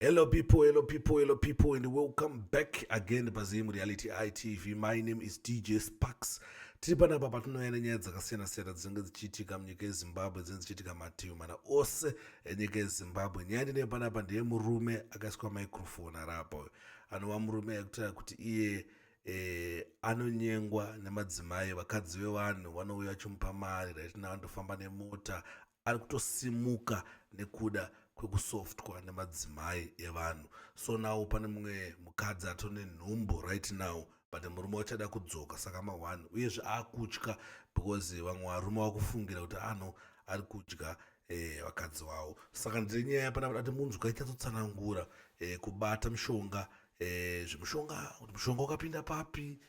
Hello people, hello people, hello people, and welcome back again paZim Reality ITV. My name is DJ Sparks. Tiri panapa patinouya nenyaya dzakasiyana siyana dzinenge dzichiitika munyika yeZimbabwe dzinenge dzichiitika mativi mana ose enyika yeZimbabwe. Nyaya ndine panapa ndiye murume akaiswa microphone arapa uyu. Anova murume akutaura kuti iye eh, anonyengwa nemadzimai vakadzi vevanhu vanouya vachimupa mari right now andofamba nemota ari kutosimuka nekuda kwekusoftwa nemadzimai evanhu so now pane mumwe mukadzi atone nhumbu right now but murume wachada kudzoka saka maone uyezve akutya because vamwe varume vakufungira kuti ano ari kudya eh, vakadzi vavo saka ndiri nyaya pana kuti munzwa ichatotsanangura eh, kubata mushonga eh, zvemushonga kuti mushonga ukapinda papi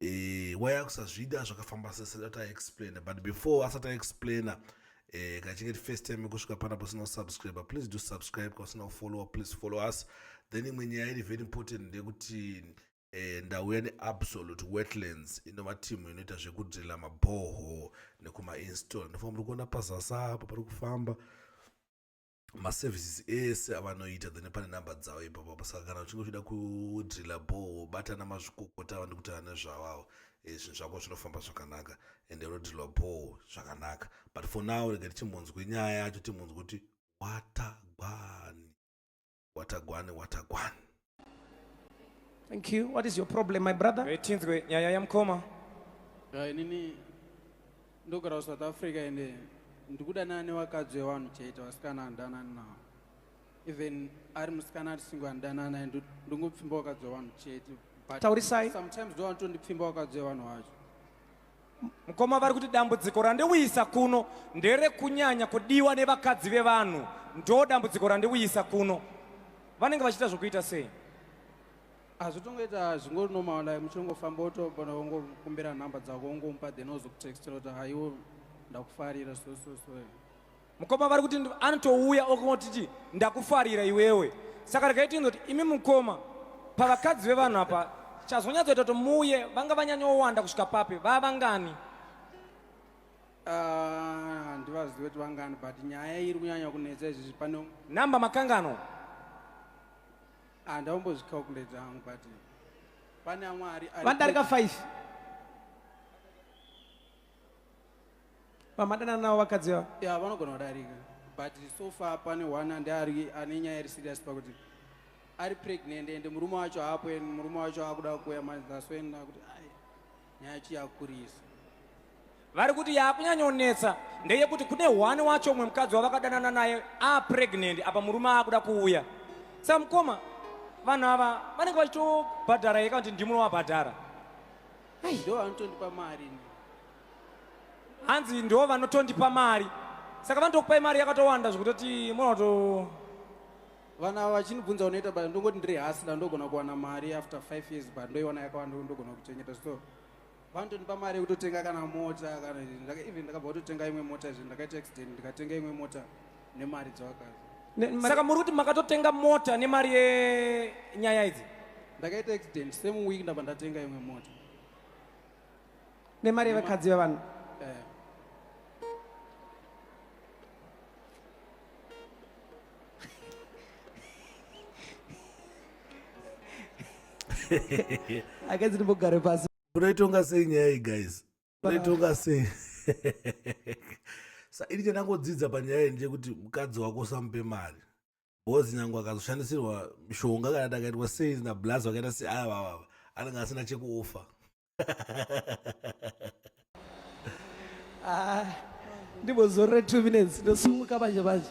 eh, why akusazvida zvakafamba sese that i explain but before asati aexplaina eh, kachinge tifirst time kusvika pana pasina kusubscribe please do subscribe kwasina kufollowa please follow us then imwe nyaya iri very important ndeyekuti eh, ndauya neabsolute wetlands inova timu inoita zvekudrila mabhoho nekumainstall ndofa muri kuona pazasa apa pari kufamba maservices ese avanoita then pane number dzavo ipapo apa saka kana uchinge uchida kudrila boho batana mazvikokota ava ndikutaura nezvavavo eh, zvinhu zvako zvinofamba zvakanaka ende unodrilwa boho zvakanaka but for now rega tichimbonzwe nyaya yacho timbonzwe kuti watagwani watagwani watagwani Thank you. What is your problem, my brother? Eh, tinzwe nyaya yamukoma. Ya eh, inini ndogara ku South Africa ende ndikudanana nevakadzi vevanhu chete vasikana handanani navo. Even ari musikana ari singo handanani naye ndingopfimba vakadzi vevanhu chete. Taurisai. Sometimes ndovanotondipfimba vakadzi vevanhu vacho. Mukoma vari kuti dambudziko randiuyisa kuno nderekunyanya kudiwa nevakadzi vevanhu, ndo dambudziko randiuyisa kuno. Vanenge vachiita zvokuita sei? hazvitongoita zvingonormal like muchingofamba wotobona wongokumbira nhamba dzako wongomupa then ozokutextira kuti haiwo ndakufarira so so so Mukoma vari kuti anotouya okungotiti ndakufarira iwewe. Saka regai tiinzoti imi mukoma pavakadzi vevanhu apa chazonyatsoita kuti muuye vanga vanyanyowanda kusvika papi vava vangani? Ah, handivazivi kuti vangani but nyaya iri kunyanya kunetsa izvizvi pano. Namba makangano? Handaombozvicalculate ah, hangu but pane amwe ari. Vandarika 5. vamadanana navo vakadzi vavo ya vanogona kudarika but so far pane one ande ari ane nyaya iri serious pakuti ari pregnant ende murume wacho haapo en murume wacho akuda kuya manje that's when akuti ai nyaya chi yakurisa vari kuti yakunyanyonetsa ndeyekuti kune one wacho umwe mukadzi wavakadanana naye apregnant apa murume akuda kuuya sa mukoma vanhu ava vanenge vachitobhadhara yeka kuti ndimuno wabhadhara Ai, ndo vanotondipa mari ini. hanzi ndiwo vanotondipa mari saka vanotokupai mari yakatowanda zvekutoti munoto Vana ava vachinibvunza unoita basa ndongoti ndiri hasla ndogona kuwana mari after five years but ndoiwana yakawanda ndogona kuchengeta so vanotondipa mari yekutotenga kana mota kana ndaka- even ndakabva kutotenga imwe mota izvi ndakaita accident ndikatenga imwe mota nemari dzawakazi Ne- mari- saka muri kuti makatotenga mota nemari yenyaya idzi ndakaita accident same week ndabva ndatenga imwe mota nemari yevakadzi vevanhu Eh, akadzi ndimbogare pasi unoitonga sei nyaya iyi guys vaitonga sei sa ini chandangodzidza panyaya iyi ndechekuti mukadzi wako usamupe mari bcause nyange akazoshandisirwa mishonga kana ti akaitwa sei nablas vakaita sei ava vava anenge asina chekuofa ah, ndibozorore two minutes ndosumuka manje manje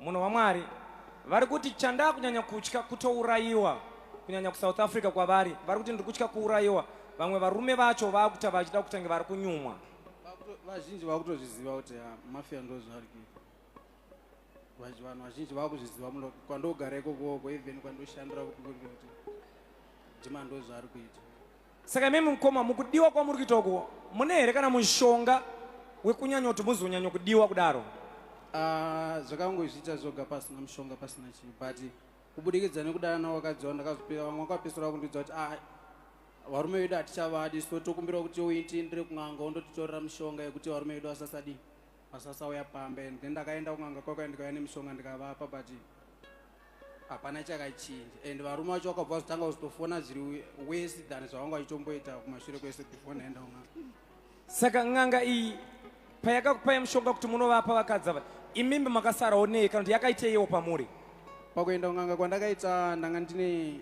Munhu waMwari vari kuti chandaa kunyanya kutya kutourayiwa kunyanya kusouth africa kwavari vari kuti ndiri kutya kuurayiwa vamwe varume vacho vakuta vachida kutange vari kunyumwa vazhinji vakutozviziva kuti ah, mafia ndozvaari kuita vanhu vazhinji vakuzviziva muno kwandogara ikokoko even kwandoshandira kuti ndima ndozvaari kuita Saka imimi mukoma mukudiwa kwamuri kuita uko mune here kana mushonga wekunyanya kuti muzonyanya kudiwa kudaro? Ah, zvakangozviita zvoga pasina mushonga pasina chinhu but kubudikidza nekudana navo vakadzi vavo ndakazopira vamwe vakapesera vakundiudza kuti ah, varume vedu hatichavadi so tokumbira kuti uitiindire kun'anga wondotitorera mushonga yekuti varume vedu vasasadii vasasauya pamba and then ndakaenda kun'anga kwakwa ndikauya nemishonga ndikavapa but hapana chakachinja and varume vacho vakabva vazotanga kuzotofona zviri wese than zvavanga vachitomboita kumashure kwese before ndaenda kun'anga saka n'anga iyi payakakupai mushonga kuti munovapa vakadzi ava imimbi makasarawo nei kana kuti yakaiteiwo pamuri pakuenda kun'anga kwandakaita ndanga ndine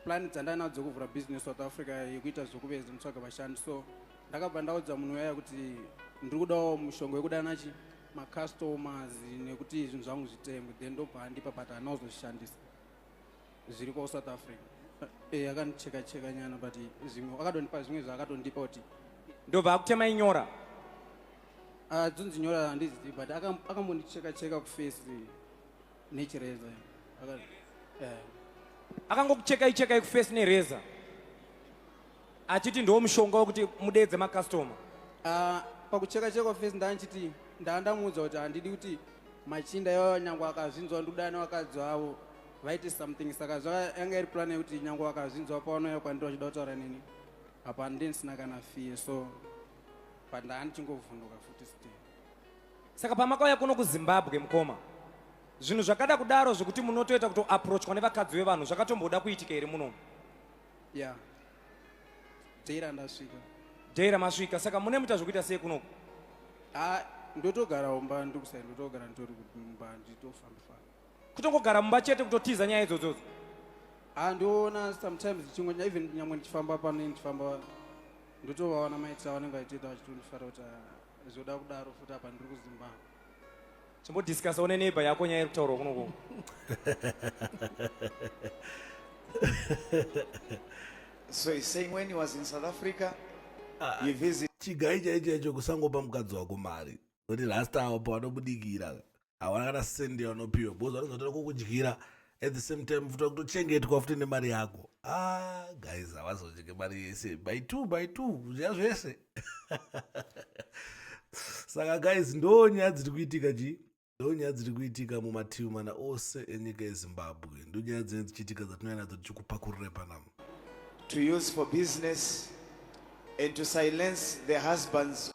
plan dzandainadzo dzekuvhura business south africa yekuita zvekuveza nditsvaga vashandi so ndakabva ndaudza munhu uyaya kuti ndiri kudawo mushonga wekudana chi macustomers nekuti zvinhu zvangu zvitengwe then ndobva andipa but anozozvishandisa zviri kwa south africa e akandicheka cheka nyana but zvimwe akatondipa zvimwe zvaakatondipa kuti ndobva akutema inyora adzonzi ah, nyora handizivi but akambondicheka cheka kufesi nechireza eh. akangokuchekai chekai kufesi nereza achiti ndo mushonga wekuti mudeedze makastoma ah, pakucheka cheka fesi ndandichiti ndaandamuudza kuti handidi kuti machinda yavo nyange akazvinzwa ndudana vakadzi vavo vaite something saka zvayanga iri plan yekuti nyange vakazvinzwa pavanouya kwandiri vachida kutaura nini apa ndini sina kana fee so pandaanichingovhunduka futi state Saka pamakauya kuno kuZimbabwe mukoma, zvinhu zvakada kudaro zvekuti munotoita kutoapproachwa nevakadzi vevanhu zvakatomboda kuitika here munomu? Yeah. Dheira ndasvika. Dheira masvika, saka mune muita zvekuita sei kunoku? Ah, ndotogara mumba ndokusai ndotogara nditori kumba nditofamba famba. Kutongogara mumba chete kutotiza nyaya idzodzodzo? Ah, ndoona sometimes ndichingo even nyamwe ndichifamba pano ndichifamba ndotovaona maitisa vanenge vachitoita vachitondifara kuti ah, Zvoda kudaro futi apa ndiri kuZimbabwe. Chimbodiscussa une neighbor yako nyaya iri kutaurwa kuno kuno. So he's saying when he was in South Africa, he visited chigai chaicho chaicho kusangopa mukadzi wako mari kuti last hour pawanobudikira hawana kana sendi yavanopiwa because vanenge vatoda kukudyira at the same time futi vakutochengetwa futi nemari yako ah guys havazodyike mari yese by two by two kudya zvese saka guys ndo nyaya dziri kuitika chii ndo nyaya dziri kuitika mumativi mana ose enyika yezimbabwe ndo nyaya dzinenge dzichiitika dzatinouya nadzo tichikupakurire panamo to use for business and to silence the husbands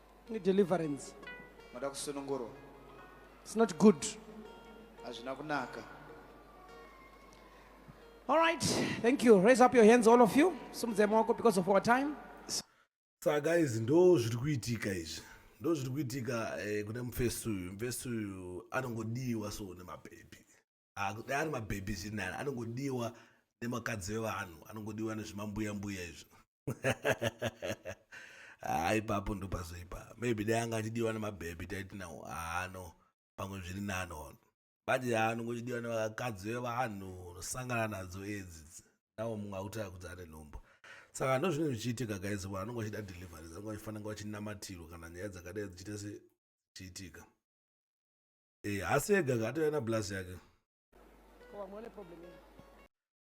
deliverance moda kusunungurwa it's not good hazvina kunaka all right thank you raise up your hands all of you simudzai maoko because of our time saka izvi ndo zviri kuitika izvi ndo zviri kuitika eh, kune mufesi uyu mufesi uyu anongodiwa so nemapepi dai ari mabhebhi zviri nani anongodiwa nemakadzi vevanhu anongodiwa nezvimambuya mbuya izvo haa ah, ipapo ndopazoipa maybe dai anga achidiwa nemabhebhi taiti nawo haano ah, pamwe zviri nani ono bati haa ah, anongochidiwa nevakadzi vevanhu unosangana nadzo edzi nawo mumwe akutaka kuti ane nhombo saka ndozvinenge zvichiitika gaizi vanhu anonga vachida delivery zange vachifanira vachinamatirwa kana nyaya dzakadai dzichiita sechiitika eh, hasi ega katouya na blaz yake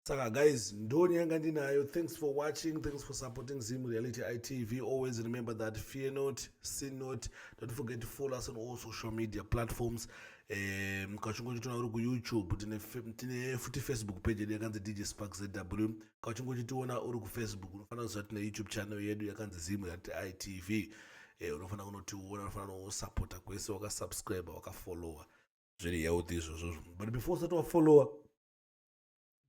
saka guys ndoni yanga ndinayo thanks for watching thanks for supporting zim reality itv always remember that fear not sin not don't forget to follow us on all social media platforms um kachingo chitona uri kuyoutube tine futi facebook page yedu yakanzi dj spark zw ka uchingochitiona uri kufacebook unofanira kuziva tine youtube channel yedu yakanzi zimu yati itv e, eh, unofanira kunotiona unofanira kunosapota kwese wakasubscribe wakafollowa zviri healthy izvozvo but before usati wafollowa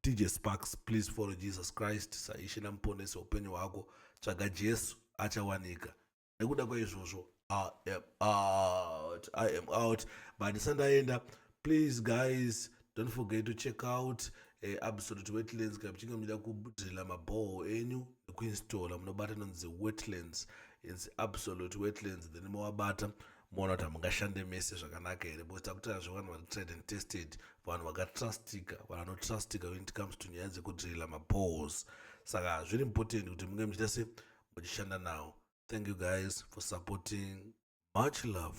dj sparks please follow jesus christ saishe namuponesi weupenyu hwako tsvaga jesu achawanika nekuda kwaizvozvo i am out i am out but sandaenda please guys don't forget to check out uh, absolute wetlands kana muchinge muchida kudrila mabhoho enyu nekuinstalla munobata inonzi wetlands inzi absolute wetlands then mowabata moona kuti hamungashande mese zvakanaka here because takutaura zvevanhu vari trade and tested vanhu vakatrustika vanhu vanotrustika when it comes to nyaya dzekudrila mabhohos saka zviri important kuti munge muchiita se muchishanda nawo thank you guys for supporting much love